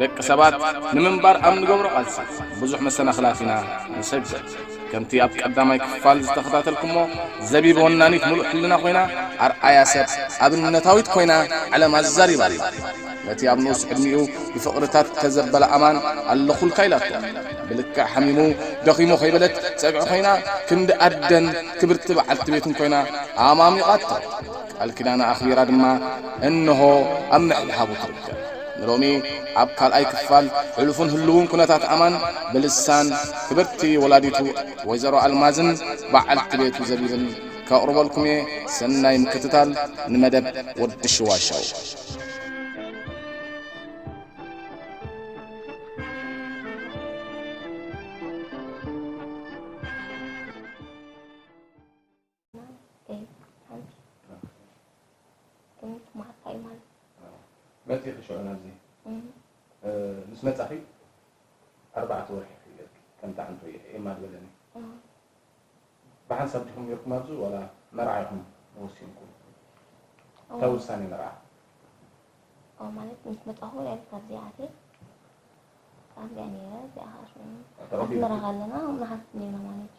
ደቂ ሰባት ንምንባር ኣብ ንገብሮ ቃልሲ ብዙሕ መሰናኽላት ኢና ንሰግር። ከምቲ ኣብ ቀዳማይ ክፋል ዝተኸታተልኩሞ ዘቢብ ወናኒት ምሉእ ሕልና ኮይና ኣርኣያ ሰብ ኣብነታዊት ኮይና ዓለም ኣዛሪባ ኣላ። ነቲ ኣብ ንኡስ ዕድሚኡ ብፍቕርታት እተዘበለ ኣማን ኣለኹልካ ኢላቶ ብልክዕ ሓሚሙ ደኺሙ ከይበለት ጸግዒ ኮይና ክንዲ ኣደን ክብርቲ በዓልቲ ቤቱን ኮይና ኣማሚቓቶ። ቃል ኪዳና ኣኽቢራ ድማ እንሆ ኣብ ምሕብሓቡ ትርከብ። ንሎሚ ኣብ ካልኣይ ክፋል ሕሉፍን ህሉውን ኩነታት ኣማን ብልሳን ክብርቲ ወላዲቱ ወይዘሮ ኣልማዝን በዓልቲ ቤቱ ዘቢብን ከቕርበልኩም እየ። ሰናይ ምክትታል ንመደብ ወዲ ሽዋሸው። መፂኺ ሽዑ ናብዚ ምስ መፃኺ ኣርባዕተ ወርሒ ክፍለጥኪ ከምቲ ዓንቶ ኤማ ዝበለኒ ብሓንሳብ ዲኹም ነርኩም ኣብዚ ዋላ መርዓ ኢኹም ወሲንኩም እታ ውሳኔ መርዓ ኦ ማለት ምስ መጣኹ ላይፍ ካብዚ ኣትየ ካብዚኣ ነይረ እዚኣ ከዓ ሽሙ ኣስመራ ከለና መሓዝ ነይርና ማለት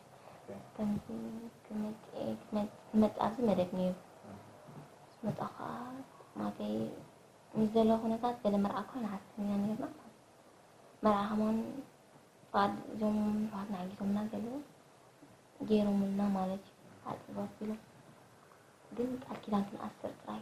እዩ ከምዚ ክመፅእ ኣብዚ መደብ ነይሩ መጣ ከዓ ማለተይ ምስ ዘሎ ኩነታት ገለ መርዓ እኳ ንሓስብ ኢና ነይርና መርዓ ከማን ፍቃድ እዞም ሕዋትና ሓጊዞምና ገለ ገይሮምልና ማለት እዩ ኣፅበ ኣቢሎም ግን ቃል ኪዳን ክንኣስር ጥራይ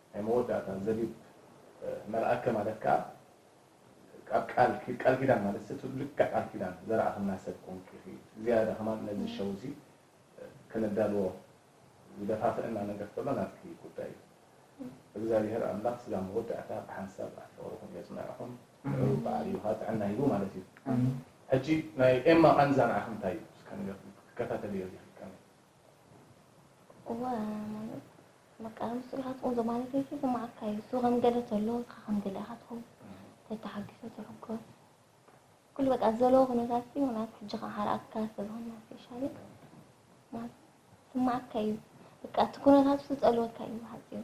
ናይ መወዳእታ ዘቢብ መልኣከ ማለት ከኣ ኣብ ቃል ቃል ኪዳን ማለት ሰብ ሰብ ልክዕ ቃል ኪዳን ዘርኣኽና ሰብ ኮንኪ ኢኺ ዝያዳ ከማን ነዚ ሸው እዚ ከነዳልዎ ዝደፋፍእና ነገር ከሎ ናትኪ ጉዳይ እዩ እግዛቢሀር ኣምላኽ ስጋ መወዳእታ ብሓንሳብ ኣብ ፍቅርኹም የጽንዕኹም ንዑ በዓል ይውሃ ጥዕና ሂቡ ማለት እዩ ሕጂ ናይ ኤማ ቃንዛ ንዓኺ እንታይ እዩ እስከ ንገርኒ ክትከታተልዮ ዲኺ ከመይ እወ ማለት በቃ ንሱ ኢኻ ትኹን ዘማለት ወይ ዝስምዓካ እዩ እሱ ከም ገለ ተሎ ኢኻ ከም ገለ ኢኻ ትኹን ተተሓጊሰ ትሕጎስ ኩሉ በቃ ዘለዎ ኩነታት እዩ ማለት ሕጂ ከዓ ሓርኣካ ሰብ ሆና ስፔሻሊ ማለት ስምዓካ እዩ በቃ እቲ ኩነታት ዝጸልወካ እዩ ዝሓጽ እዩ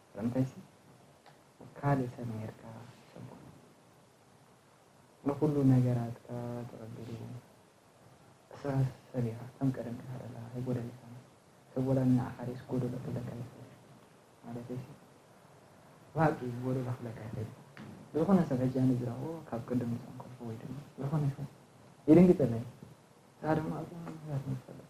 ስለምንታይሲ ካልእ ሰብ ኔርካ ጽቡቕ እዩ ንኹሉ ነገራትካ ተቐቢሉ እስኻ ሰብ ኢኻ ከም ቀደም ተሃረላ ኣይጎደለካን ሰብ ወላ ንዓኻ ርእስ ጎደሎ ክብለካ ይኽእል ማለተይሲ ብሃቂ ጎደሎ ክብለካ ይኽእል ዝኾነ ሰብ ሕጂ ኣነ ዝረኽቦ ካብ ቅድም ንሰን ከልፎ ወይ ድማ ዝኾነ ሰብ ይድንግጸለይ ንስኻ ድማ ኣብዛ ምክንያት ንፈልጥ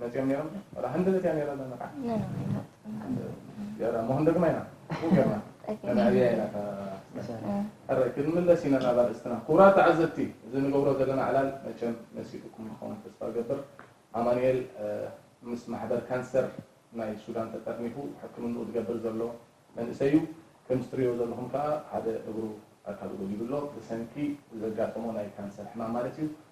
መፅኦም ነይሮም ወላ ክንዲ መፅኣ ነይረ ኣለና ከዓ ገራ ሞህን ደግማ ኢና ገርና ነናዕብያ ኢና ሕረ ክንምለስ ኢና ናብ ኣርእስትና ክቡራት ተዓዘብቲ እዚ ንገብሮ ዘለና ዕላል መቸም መሲጡኩም ንኸውን ተስፋ ገብር ኣማንኤል ምስ ማሕበር ካንሰር ናይ ሱዳን ተጠርኒፉ ሕክምንኡ ዝገብር ዘሎ መንእሰይ እዩ ከም ዝትሪዮ ዘለኹም ከዓ ሓደ እግሩ ኣካሉ ጎዲሉ ኣሎ ብሰንኪ ዘጋጠሞ ናይ ካንሰር ሕማም ማለት እዩ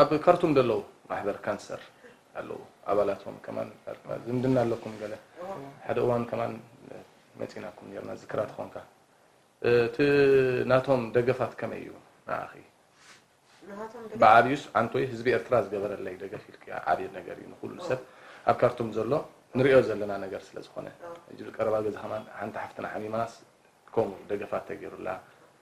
ኣብ ካርቱም ደለዉ ማሕበር ካንሰር ኣለዉ ኣባላቶም ከማን ኣርካ ዝምድና ኣለኩም ገለ ሓደ እዋን ከማን መጺናኩም ኔርና ዝክራ ትኾንካ እቲ ናቶም ደገፋት ከመይ እዩ ንዓኺ ብዓብዩስ ዓንቶይ ህዝቢ ኤርትራ ዝገበረለይ ደገፍ ኢልክያ ዓብይ ነገር እዩ ንኹሉ ሰብ ኣብ ካርቱም ዘሎ ንሪኦ ዘለና ነገር ስለ ዝኾነ ሕጂ ቀረባ ግዜ ከማን ሓንቲ ሓፍትና ሓሚማስ ከምኡ ደገፋት ተገይሩላ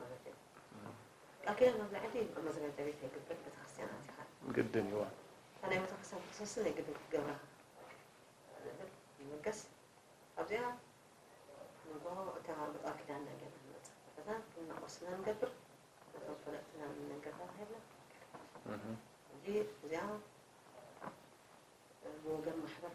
ማለት እዩ ኣኪለ መብላዕቲ መዘጋጃ ቤት ኣይግብር ቤተክርስትያን ኣቲኻ ግድን እዩ እታ ናይ ቤተክርስትያን ክትሰስን ናይ ግድን ክትገብራ ንብል ይመገስ ኣብዚኣ ንጎ እታ ብጣር ኪዳን ናይ ገና ንመፅእ ከለና እናቆስና ንገብር ነቶም ፈለጥትና ንነገር ተባሂልና እንጂ እዚኣ ብወገን ማሕበር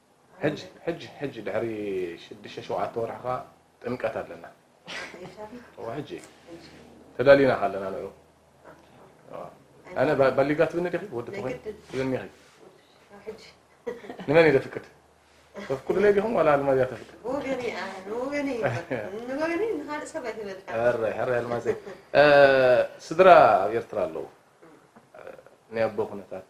ሕጅ ሕጅ ሕጅ ድሕሪ ሽድሽተ ሸውዓተ ወርሒ ከኣ ጥምቀት ኣለና እወ ሕጂ ተዳሊና ካለና ንዑ ኣነ ባሊጋ ትብኒ ዲኺ ወዲ ትኾይን ትብኒኺ ንመን እዩ ዘፍቅድ ተፍቅዱለይ ዲኹም ዋላ ኣልማዝ እያ ተፍቅድ ሕራይ ኣልማዘይ ስድራ ኣብ ኤርትራ ኣለዉ ናይ ኣቦ ኩነታት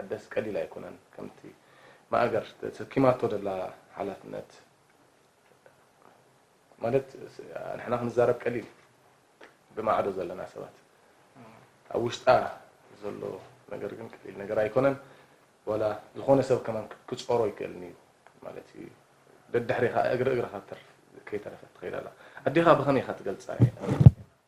ኣደስ ቀሊል ኣይኮነን ከምቲ ማእገር ተሰኪማቶ ደላ ሓላፍነት ማለት ንሕና ክንዛረብ ቀሊል ብማዕዶ ዘለና ሰባት ኣብ ውሽጣ ዘሎ ነገር ግን ቀሊል ነገር ኣይኮነን ወላ ዝኾነ ሰብ ከማን ክጾሮ ይክእልን እዩ ማለት እዩ ደድሕሪኻ እግሪ እግርኻ ተርፍ ከይተረፈት ትኸይድ ኣላ ኣዴኻ ብኸመይ ኢኻ ትገልጻ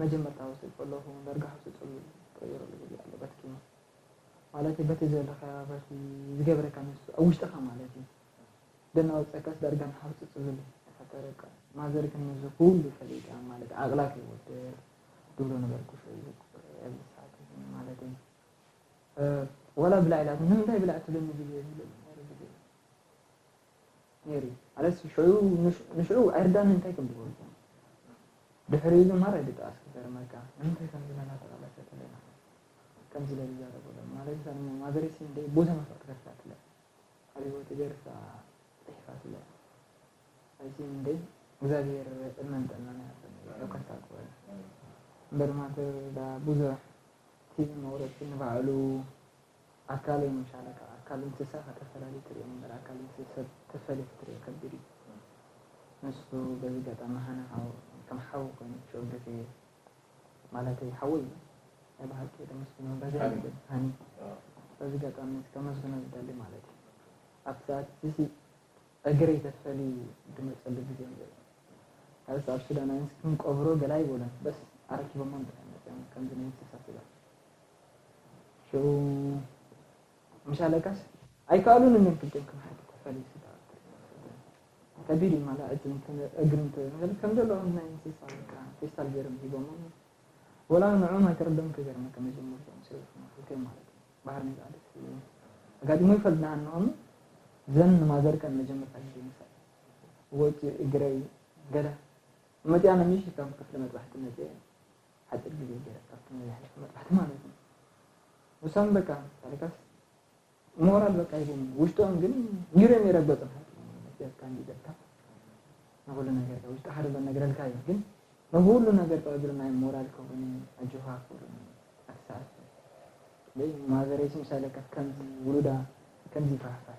መጀመርታ ወሲድ ከለኩ ውን ዳርጋ ሕሱር ጽሉል ተቀይረሉ ጊዜ ኣሎ በቲ ኪኖ ማለተይ በቲ ዘለካዮ በቲ ዝገብረካ ንሱ ኣብ ውሽጥካ ማለት እዩ ደናወጸካስ ዳርጋ ንሓውሲ ጽሉል እዩ ተፈጠረካ ማዘር ግን ነዚ ኩሉ ፈሊጣ ማለት ዓቅላ ከይወድቅ ድብሎ ነገር ኩሾ እዩ ኣብዚ ሰዓት እዚ ማለተይ ዋላ ብላዕ ኢላትኒ ንምንታይ ብላዕ ትብለኒ ግዜ ዝብለሉ ነይሩ ግዜ ነይሩ እዩ ማለት ሽዑ ንሽዑ ኣይርዳንን እንታይ ከም ዝገብሩ እኮ ድሕሪኡ ግን ማራ ይድቃስ ክገርመካ ንምንታይ ከምዚ ነና ተቃለሰ ተለና ከምዚ ኢለ ዝዛረበሎም ማለት እዛ ድማ ማዘረይ ስም ደይ ቦታ መፍቅ ትገርሳትለ ኣብ ህይወት ገርሳ ፅሒፋትለ ኣይሲ እንደይ እግዚኣብሔር እድመን ጥዕናን ይሃበኒ በረከት ታቅበል እምበር ማተር ዳ ብዙሕ ቲቪ መቁረፂ ንባዕሉ ኣካለይ ምሻለ ካብ ኣካል እንስሳ ከተፈላሊ ትሪኦ እምበር ኣካል እንስሳ ሰብ ተፈልዩ ክትሪኦ ከቢድ እዩ ንሱ በዚ ገጣሚ ሃና ሓው ከም ሓው ኮይኑ ክሸወደኪ እየ ማለተይ ሓወይ እዩ ናይ ብሓቂ ደመስግኖ በዚ ሃኒ በዚ ገጣሚ ከመስግኖ ዝደሊ ማለት እዩ ኣብቲ ሰዓት እዚሲ እግረይ ተትፈሊ ድመፀሉ ግዜ እዩ ዘሎ ካልስ ኣብ ሱዳናውያንስ ክንቀብሮ ገለ ኣይበሉን በስ ኣረኪቦሞ እንድሕር መፅኦም ከምዚ ናይ እንስሳ ስጋ ሽዑ ምስ ኣለቃስ ኣይከኣሉን እምበር ግድን ከም ሓቂ ተፈልዩ ዝተኣከ ከቢድ እዩ ማላ እጅ እግሪ እንተበል ከም ዘለኦም ናይ እንስሳ በቃ ፌስታል ገይሮም ሂቦሞም ወላ ንዕኦም ኣይተረዶም ክገርመካ መጀመርታ ምስ ረብሑና ክልተ ማለት እዩ ባህር ንዝኣደት ኣጋጢሞ ይፈልጥ ንሃንኦም ዘን ንማዘርከ ንመጀመርታ ግዜ ምሳይ ወፂኡ እግረይ ገዳ መፅያ ነሚሽ ካብ ክፍሊ መጥባሕቲ መፅየ ሓጺር ግዜ ገይረ ካብቲ ናይ ዝሓለፈ መጥባሕቲ ማለት እዩ ንሶም በቃ ታሪካስ ሞራል በቃ ይቦም ውሽጦም ግን ኒሮም ይረገጹ መስያትካ እንዲደካ ንኩሉ ነገርካ ውሽጢ ሓደ በነግረልካ እዩ ግን ንኩሉ ነገር ጠቅድሩ ናይ ሞራል ከሆነ ኣጆኻ ክብሉ ኣትሰዓት ማዘረይሲ ምሳሌ ከምዚ ውሉዳ ከምዚ ፋሕፋሕ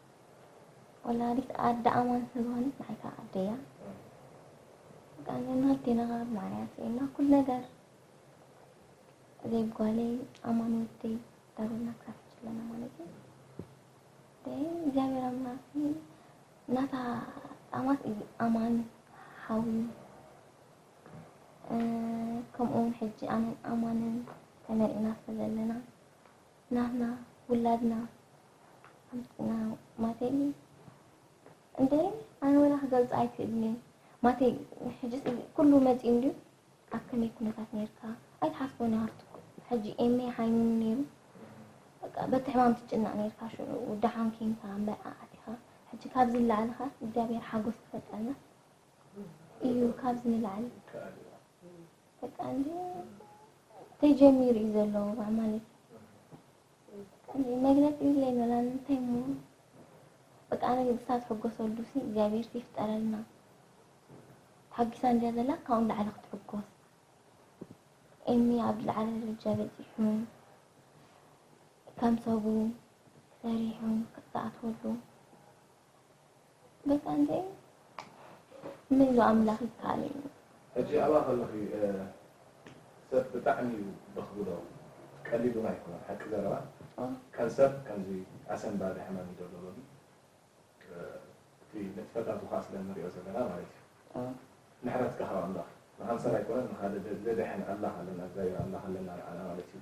ወላዲት ኣደ ኣማን ስለዝኾነት ንዓይካ ኣደያ ቃኘና ቴናኻ ማርያ ስኤና ኩል ነገር ዘይጓለይ ኣማን ወደይ ዳብና ክሳፍት ስለና ማለት እዩ እግዚኣብሔር ኣምላክ ናታ ጣማት እዩ ኣማን ሓዊ ከምኡውን ሕጂ ኣነን ኣማንን ተመሪዕና ስለዘለና ናትና ውላድና ኣምጽና ማተይ እንዴ ኣነ ወላ ክገልጽ ኣይክእልን'የ ማተይ ሕጂስ ኩሉ መጺኡ እንድዩ ኣብ ከመይ ኩነታት ኔርካ ኣይትሓስቦን ሃፍትኩ ሕጂ ኤሜ ሃይሙን ኔሩ በቃ በቲ ሕማም ትጭነቕ ኔርካ ሽዑ ደሓን ኬንካ መርዓ ኣቲኻ ሕጂ ካብዚ ንላዕልኻ እግዚኣብሔር ሓጎስ ክፈጠልና እዩ ካብዚ ንላዕሊ በቃ እንዲ ተጀሚሩ እዩ ዘሎ ዋዕ ማለት እንዲ መግለጺ የብለይ ኖላ እንታይ እሞ በቃ ኣነ ንሳ ትሕጎሰሉ ሲ እግዚኣብሔር ይፍጠረልና ተሓጊሳ እንድያ ዘላ ካብኡ ንላዕሊ ክትሕጎስ ኤሚ ኣብ ዝለዓለ ደረጃ በፂሑ ከም ሰቡ ሰሪሑ ክኣትወሉ በቃ እንተ ምን ዶ ኣምላኽ ይከኣል እዩ። ሕጂ ኣብኣ ከለኺ ሰብ ብጣዕሚ እዩ በኽብዶ ቀሊል ውን ኣይኮነን ሓቂ ዘረባ ካንሰር ከምዚ ኣሰንባዲ ሕማም እዩ ዘሎ ሎሚ እቲ ንጥፈታቱ ከኣ ስለ ንሪኦ ዘለና ማለት እዩ ምሕረት ከሃብ ኣምላኽ ንካንሰር ኣይኮነን ንካልእ ዘድሕን ኣምላኽ ኣለና እግዚኣብሔር ኣምላኽ ኣለና ንዓና ማለት እዩ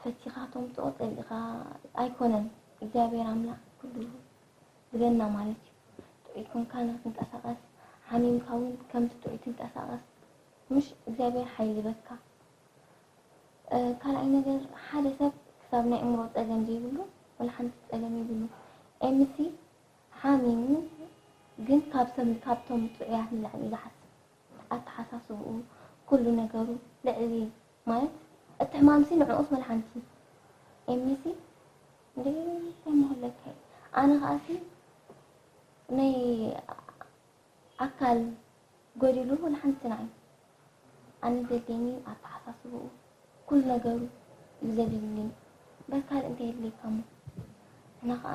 ፈቲኻ ተምጽኦ ጸሊእኻ ኣይኮነን እግዚኣብሔር ኣምላክ ኩሉ ዝገና ማለት እዩ ጥዑይ ኮንካ ንክትንቀሳቀስ ሓሚምካ እውን ከምቲ ጥዑይ ትንቀሳቀስ ምሽ እግዚኣብሔር ሓይሊ ይበካ ካልኣይ ነገር ሓደ ሰብ ክሳብ ናይ እምሮ ጸገም ዘይብሉ ወላ ሓንቲ ጸገም ይብሉ ኤምሲ ሓሚሙ ግን ካብ ሰብ ካብቶም ጥዑያት ንላዕሊ ዝሓስብ ኣተሓሳስብኡ ኩሉ ነገሩ ልዕሊ ማይ እቲ ሕማምሲ ንዕኡስ መድሓንቲ ኤሚሲ እንድዒ ታይ ምኩለካ እዩ ኣነ ከኣሲ ናይ ኣካል ጎዲሉ ወላ ሓንቲ ንዓይ ኣነ ዘድልየኒ ኣተሓሳስብኡ ኩሉ ነገሩ እዩ ዘድልየኒ እምበር ካልእ እንታይ የድልየካሞ ንሕና ከኣ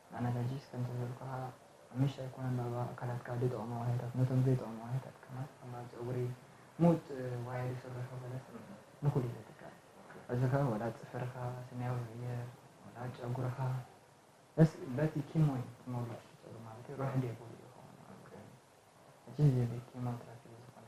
ኣነ ሕጂስ ከምቲ ዝበልኩኻ ሓሙሽተ ኣይኮነን ባባ ኣካላትካ ድጠቕሙ ዋህዮታት ነቶም ዘይጠቕሙ ዋህዮታት ከማን ሕማም ጸጉሪ ሙጥ ዋህዮ ድስርሑ ገለ ስምዒት ንኹሉ ዘትካል ሕዚኸ ወላ ጽፍርኻ ስኒያዊ ይቕየር ወላ ጨጉርኻ በስ በቲ ኪሞይ ትመልኦ ሽቶዶ ማለተይ ሩሕ ዴቡሉ ይኸውን ኣብ ቅድሚት ሕጂስ ዜቤት ኪሞትራፒ ዝኾነ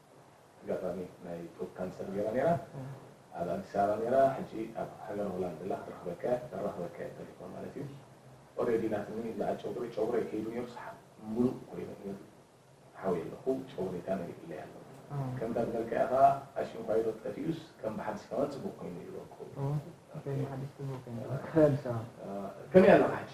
ኣጋጣሚ ናይ ጡብ ካንሰር ጌራ ኔራ ኣብ ኣዲስ ኣበባ ኔራ ሕጂ ኣብ ሃገረ ሆላንድ ኣላ ክትረኽበካ እያ ከራኽበካ እየ ተሌፎን ማለት እዩ ኦሬዲ ናትኒ ዝኣ ጨጉሪ ጨጉረይ ከይዱ ኔሩ ሰሓብ ሙሉእ ኮይኑ እዩ ሓውየ ኣለኹ ጨጉረይ ካነ ይእለይ ኣሎ ከምታ ዝበልካያ ከኣ ኣሽንኳይዶ ጠፊኡስ ከም ብሓድሽ ከማ ጽቡቅ ኮይኑ ይበቁ ከመይ ኣለኻ ሕጂ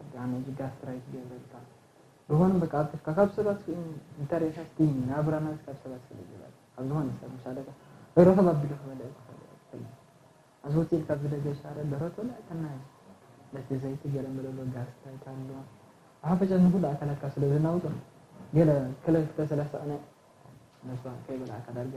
ኣንታ ነዚ ጋስትራይት ዝገብረልካ ዝኮነ በቃ ኣብ ተስካ ካብ ሰባት ስኢኑ እንተሪኢካ ስቲ ናብራ ናዚ ካብ ሰባት ስለ ዝበለ ካብ ዝኮነ ሰብ ምስ ኣለካ ርክብ ኣቢሉ ክበልዕ ዝክእል እየ ትክል ኣዚ ሆቴል ካብ ዝደገ ሻረ ደረት ወላዕተና እዩ በቲ ዘይቲ ገለ መለሎ ጋስትራይት ኣሎ ብሓፈሻ ንኩሉ ኣካላትካ ስለ ዘናውጾ ገለ ክልተ ሰለስተ ቅነ መስዋእት ከይበላዕካ ዳርጋ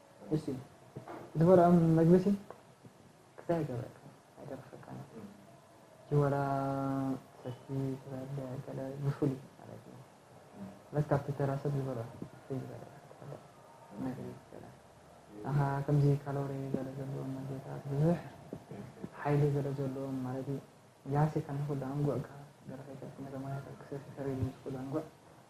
እስቲ ዝበልዖም መግቢሲ ክሳይ ኣይገብረካ ኣይደርፈካን ጅወላ ሰቲ ዝበለ ገለ ብፍሉ ማለት እዩ ለት ካብቲ ተራ ሰብ ዝበልዖ ፍይ ዝበለ መግቢ ገለ ኣኻ ከምዚ ካሎሪ ገለ ዘለዎም መግቢታት ብዙሕ ሓይሊ ገለ ዘለዎም ማለት እዩ ያሴ ከንኹሉ ኣንጉዕካ ገለ ከይተርፍ ነተማያታት ክሰቲ ተሪሉ ዝኹሉ ኣንጉዕ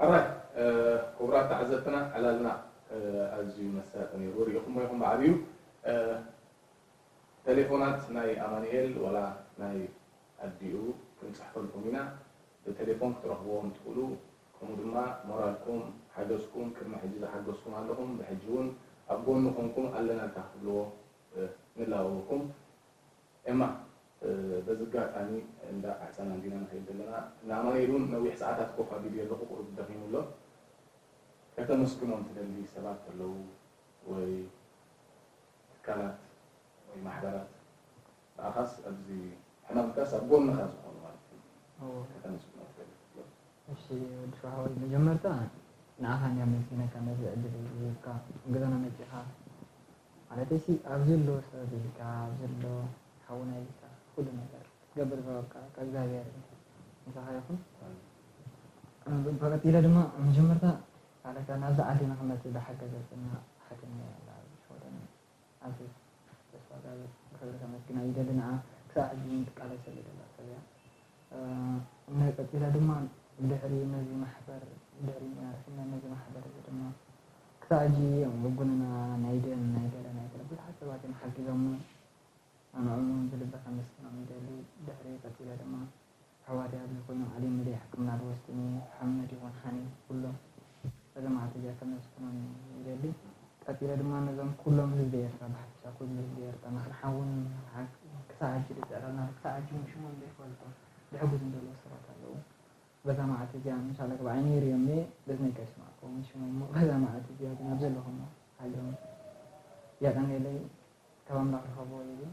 ሕራይ ኩቡራት ተዓዘብትና ዕላልና ኣዝዩ መሳጢ ኔሩ ሪኢኹሞ ኢኹም ብዓቢኡ ተሌፎናት ናይ ኣማኒኤል ወላ ናይ ኣዲኡ ክንጽሕፈልኩም ኢና ብተሌፎን ክትረኽብዎም ትኽእሉ ከምኡ ድማ ሞራልኩም ሓገዝኩም ቅድሚ ሕጂ ዝሓገዝኩም ኣለኹም ብሕጂ ውን ኣብ ጎኑ ኮንኩም ኣለናልካ ክትብልዎ ንላበወኩም ኤማ በዚ ጋጣሚ እንዳ ቃሕጸና እንዲና ንኸይድ ዘለና ንኣማኑኤል ውን ነዊሕ ሰዓታት ኮፍ ኣቢልዮ ኣለኹ ቁሩብ ደኺሙ ኣሎ ከተመስግኖም ትደሊ ሰባት ተለዉ ወይ ትካላት ወይ ማሕበራት ንኣኻስ ኣብዚ ሕማምካስ ኣብ ጎንኻ ዝኾኑ ማለት ከተመስግኖም ትደሊ ትብሎ። እሺ ወዲ ሸውሃዋይ መጀመርታ ንኣኻ እንድያ ኣመስጊነካ ነዚ ዕድል እዚ ሂብካ ኣብ ገዛና መጺኻ ማለተይሲ ኣብዚ ኣሎ ሰብ ኢልካ ኣብዚ ኣሎ ሓውና ኢልካ ኩሉ ነገር ክትገብር ዝሃበካ ካብ እግዚኣብሄር እንተ ምሳኻ ይኹን ብቐጺለ ድማ ኣብ መጀመርታ ሳላካ ናብዚ ዓዲ ንኽመጽእ ዝሓገዘትና ሓትነይ ኣላ ኣብዚ ሽወደን ኣዚ ተስፋጋብር ብኽብሪ ከመስግና ይደሊ ንዓ ክሳብ ሕጂ እውን ትቃለሰሉ ዘላ ሰብ እያ። እምነ ቀጺለ ድማ ድሕሪ ነዚ ማሕበር ድሕሪ መሪሕነት ነዚ ማሕበር እዚ ድማ ክሳዕ ሕጂ እዮም ብቡንና ናይ ደም ናይ ገለ ናይ ገለ ብዙሓት ሰባት እዮም ሓጊዞምና ኣነኦም እውን ብልቢ ከመስግኖም ይደሊ ድሕሪ ቀጺለ ድማ ኣሕዋተይ ኣብዚ ኮይኖም ኣልዩምለይ ሕክምና ድወስድኒ ሓመድ ይኹን ሓኔ ኩሎም ጸገማት እዚኣ ከነስኩኖም ይደሊ። ቀጺለ ድማ ነዞም ኩሎም ህዝቢ ኤርትራ ብሓፈሻ ኩሉ ህዝቢ ኤርትራ ምኽሪ ሓውን ክሳዕ ሕጂ ድጽዕረልና ኣሎ ክሳዕ ሕጂ ውን ሽሞም ዘይፈልጦ ድሕጉዝም ደለዉ ሰባት ኣለዉ በዛ መዓልቲ እዚኣ ምሻላ ግብዓይነይ ሪኦም እየ በዝነይ ከይስማዕክዎም ሽሞም እሞ በዛ መዓልቲ እዚኣ ግን ኣብ ዘለኹሞ ሓልዮም የቀኔለይ ካብ ኣምላኽ ርኸብዎ ይብል።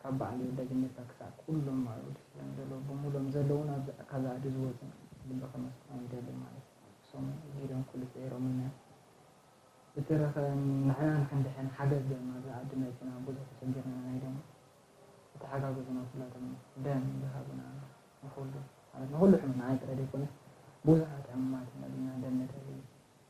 ካብ በዓል ወልደገነታ ክሳዕ ኩሎም መርዑት እስላም ዘለዉ ብምሉኦም ዘለዉን ኣብ ካብ ኣዱ ዝወጹን ልቢ ከመስጦም ይደሊ ማለት ብሶም ጊደም ኩሉ ጽዒሮምነ ብትረከ ንሕና ንክንድሕን ሓገዝ ደም ኣብዛ ኣዱ መጺና ቡዙሕ ተሸጊርና ናይ ደም ዝተሓጋገዙና ኩላቶም ደም ዝሃቡና ንኩሉ ማለት ንኩሉ ሕሙም ንዓይ ጥራይ ደይኮነስ ቡዙሓት ሕሙማት ኢና ደም ነተሊ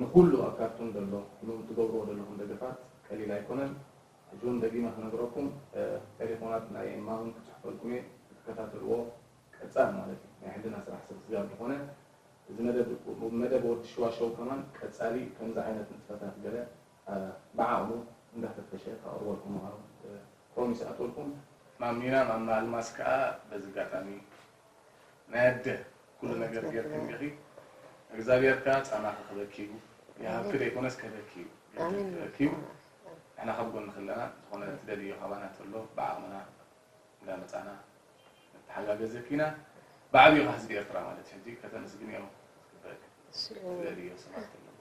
ንኹሉ ኣብ ካርቱም ዘሎ ን ትገብርዎ ዘለኹም ደገፋት ቀሊል ኣይኮነን ሕጂ ውን ደጊመ ክነግረኩም ቴሌፎናት ናይ እማ ውን ክጽሕፈልኩም እየ ክትከታተልዎ ቀጻል ማለት እዩ ናይ ሕልና ስራሕ ሰብ ስጋብ ዝኾነ እዚ መደብ መደብ ወዲ ሽዋሸው ከማን ቀጻሊ ከምዚ ዓይነት ንጥፈታት ገለ ብዓቕሙ እንዳፈተሸ ከቕርበልኩም ምዃኑ ኮም ይስኣተልኩም። ማሚና ማማ ኣልማዝ ከኣ በዚ ጋጣሚ ናይ ኣደ ኩሉ ነገር ጌርክን ኢኺ እግዛብሄር ከኣ ጻማኺ ክበኪ እዩ ይሃብኪ ደይኮነስ ከህበኪ እዩ ገንዘብ ክህበኪ እዩ ንሕና ካብ ጎንኺ ኣለና ዝኾነ ትደልይዮ ካባና ተሎ ብዓቕምና እንዳ መጻና ንተሓጋገዘኪ ኢና ብዓቢኡ ከኣ ህዝቢ ኤርትራ ማለት እዩ ሕጂ ከተመስግንዮ ዝግበእኪ ትደልይዮ ሰባት ኣለዉ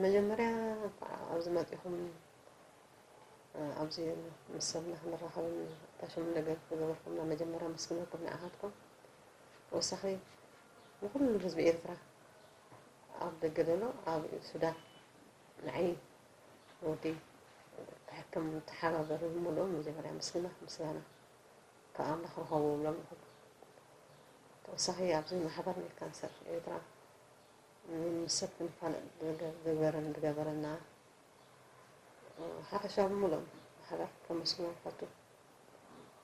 መጀመርያ እንኳዕ ኣብዚ መጺኹም ኣብዚ ምስ ሰብና ክንራኸብን ኣታሽም ነገር ዝገበርኩምና መጀመርያ መስግነኩም ንዓኻትኩም ወሳኺ ንኩሉ ህዝቢ ኤርትራ ኣብ ደገ ዘሎ ኣብ ሱዳን ንዓይ ወዲ ሕክም ተሓባበሪ ሙሉእ መጀመርያ ምስግና ምስጋና ካብ ኣምላኽ ረኸቡ ብሎም ይኹሉ ተወሳኺ ኣብዚ ማሕበር ናይ ካንሰር ኤርትራ ምስ ሰብ ክንፋለጥ ዝገበረን ዝገበረና ሓፈሻዊ ሙሉእ ማሕበር ከመስግኖ ፈቱ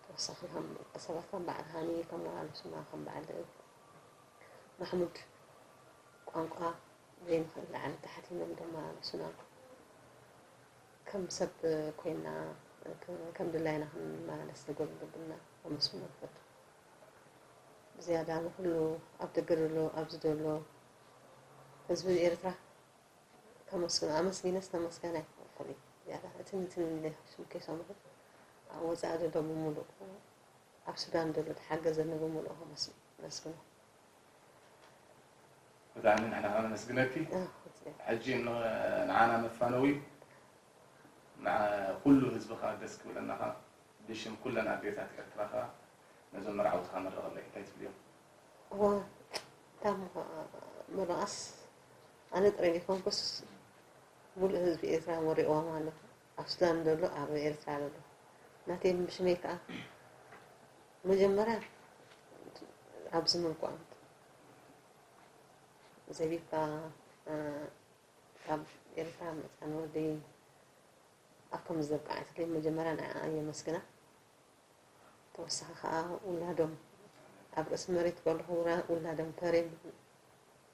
ተወሳኺ ከም ሰባት ከም በዓል ሃኒ ከም ወላሉ ስማ ከም በዓል ማሕሙድ ቋንቋ ዘይንኽእል ላዕሊ ታሕቲ ኢሎም ድማ ምስና ከም ሰብ ኮይና ከም ድላይና ክንመላለስ ዘጎልብልና ኣመስግኖ ንፈቱ ብዝያዳ ንኩሉ ኣብ ደገ ዘሎ ኣብዚ ዘሎ ህዝቢ ኤርትራ ከመስግኖ ኣመስጊነስ ተመስገነ ይኸፈል እዩ ዝያዳ እትን እትን ኢለ ሽም ከይሰምዑ ኣብ ወፃኢ ዘሎ ብምሉእ ኣብ ሱዳን ዘሎ ተሓገዘኒ ብምሉእ ከመስግኖ ብጣዕሚ ንሕና ከኣ ነመስግነኪ ሕጂ ንዓና መፋነዊ ንኩሉ ህዝቢ ከኣ ደስ ክብለና ከኣ ብሽም ኩለን ኣዴታት ኤርትራ ከኣ ነዞም መርዓውቲ ከኣ መርቐለይ እንታይ ትብልዮም እዋ እታሞ ምርቓስ ኣነ ጥራይ ዘይኮንኩስ ሙሉእ ህዝቢ ኤርትራ ወሪቕዎም ኣሎ ኣብ ሱዳን ደሎ ኣብ ኤርትራ ደሎ ናተይ ብሽመይ ከኣ መጀመርያ ኣብዚ ምልኩ ዘቢብካ ካብ ኤርትራ መፃ ንወደይ ኣብ ከም ዘብቃዓትለይ መጀመርያ ንዓኣ የመስግና ተወሳኺ ከዓ ውላዶም ኣብ ርእሲ መሬት ከለኹ ውላዶም ተሬም